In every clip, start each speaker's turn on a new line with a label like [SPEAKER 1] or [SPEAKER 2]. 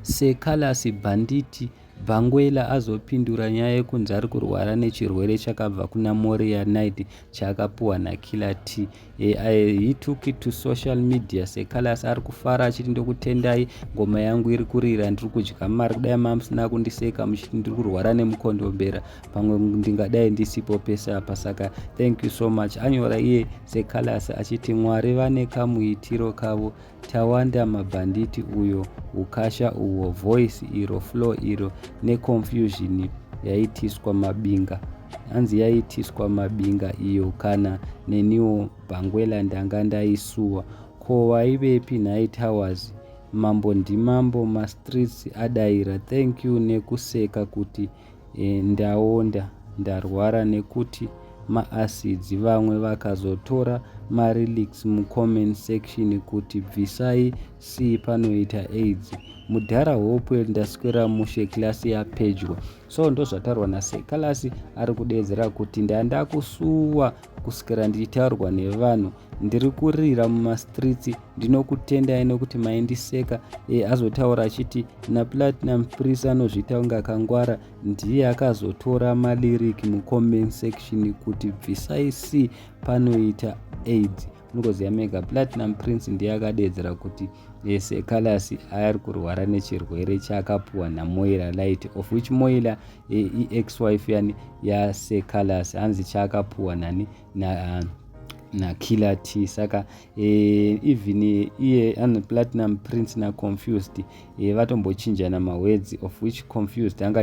[SPEAKER 1] Secalous bhanditi Bangwela azopindura nyaya yekunzi ari kurwara nechirwere chakabva kuna Moria Knight chaakapuwa naKiller T. He took it to social media Secalous ari kufara achiti ndokutendai ngoma yangu iri kurira ndiri kudya mari kudai mamusina kundiseka muchiti ndiri kurwara nemukondombera pamwe ndingadai ndisipo pese apa saka thank you so much anyora iye Secalous achiti mwari vane kamuitiro kavo Tawanda mabhanditi uyo ukasha uwo voice iro flow iro neconfusion yaitiswa mabinga hanzi yaitiswa mabinga iyo kana neniwo bhangwela ndanga ndaisuwa ko waivepi nhai towers mambo ndimambo mastreets adaira thank you nekuseka kuti e, ndaonda ndarwara nekuti maacids vamwe vakazotora marelics mucomment section kuti bvisai c panoita aids mudhara hope ndaswera mushe klasi yapedyo so ndozvatarwa nasekalasi ari kudeedzera kuti ndandakusuwa kusvikira ndichitaurwa nevanhu ndiri kurira mumastreets ndinokutendai nokuti maindiseka e, azotaura achiti naplatinum pris anozviita kunge akangwara ndiye akazotora malirik mucomment section kuti bvisai c panoita aids Ngozi yaMega Platinum Prince ndiye akadeedzera kuti yes Callas ari kurwara nechirwere chaakapuwa naMoira Light of which Moira ex wife yani yaSir Callas hanzi chaakapuwa nani na nakiller t saka eh, even eh, iye an platinum prince naconfused eh, vatombochinjana mahwedzi of which confused anga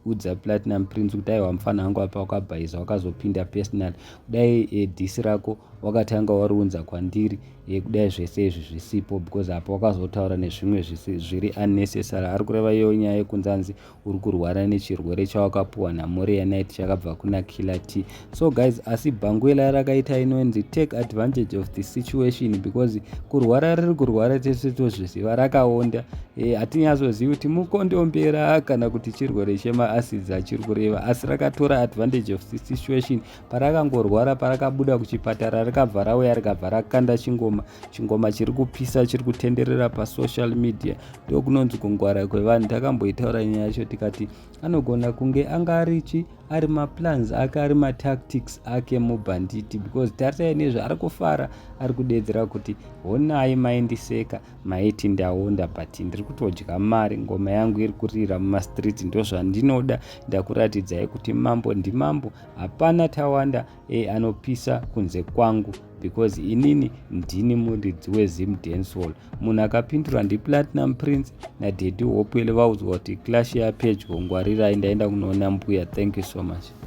[SPEAKER 1] udza platinum prince kuti aiwa mufana wangu apa wakabhaiza wakazopinda personal kudai e, eh, disi rako wakatanga wariunza kwandiri e, kudai zvese izvi zvisipo because apa wakazotaura nezvimwe zviri unnecessary ari kureva iyo nyaya yekunzi anzi uri kurwara nechirwere chawakapuwa namoriya night chakabva kuna killer t so guys asi bhanguela rakaita inonzi take advantage of the situation because kurwara riri kurwara tese tozviziva rakaonda e, eh, hatinyazozivi kuti mukondombera kana kuti chirwere chemaacids achiri kureva asi rakatora advantage of the situation parakangorwara parakabuda kuchipatara rikabva rauya rikabva rakanda chingoma chingoma chiri kupisa chiri kutenderera pasocial media ndokunonzi kungwara kwevanhu takamboitaura nyaya yacho tikati anogona kunge anga arichi ari maplans ake ari matactics ake mubhanditi because taritai nezvaari kufara ari kudeedzera kuti honai maindiseka maiti ndaonda but ndiri kutodya mari ngoma yangu iri kurira mumastreet ndozvandinoda ndakuratidzai kuti mambo ndimambo hapana tawanda e anopisa kunze kwangu because inini ndini muridzi wezim dancehall munhu akapindura ndiplatinum prince nadedi hopwele vaudzwa kuti clash yapedyo ngwarirai ndaenda kunoona mbuya thank you so much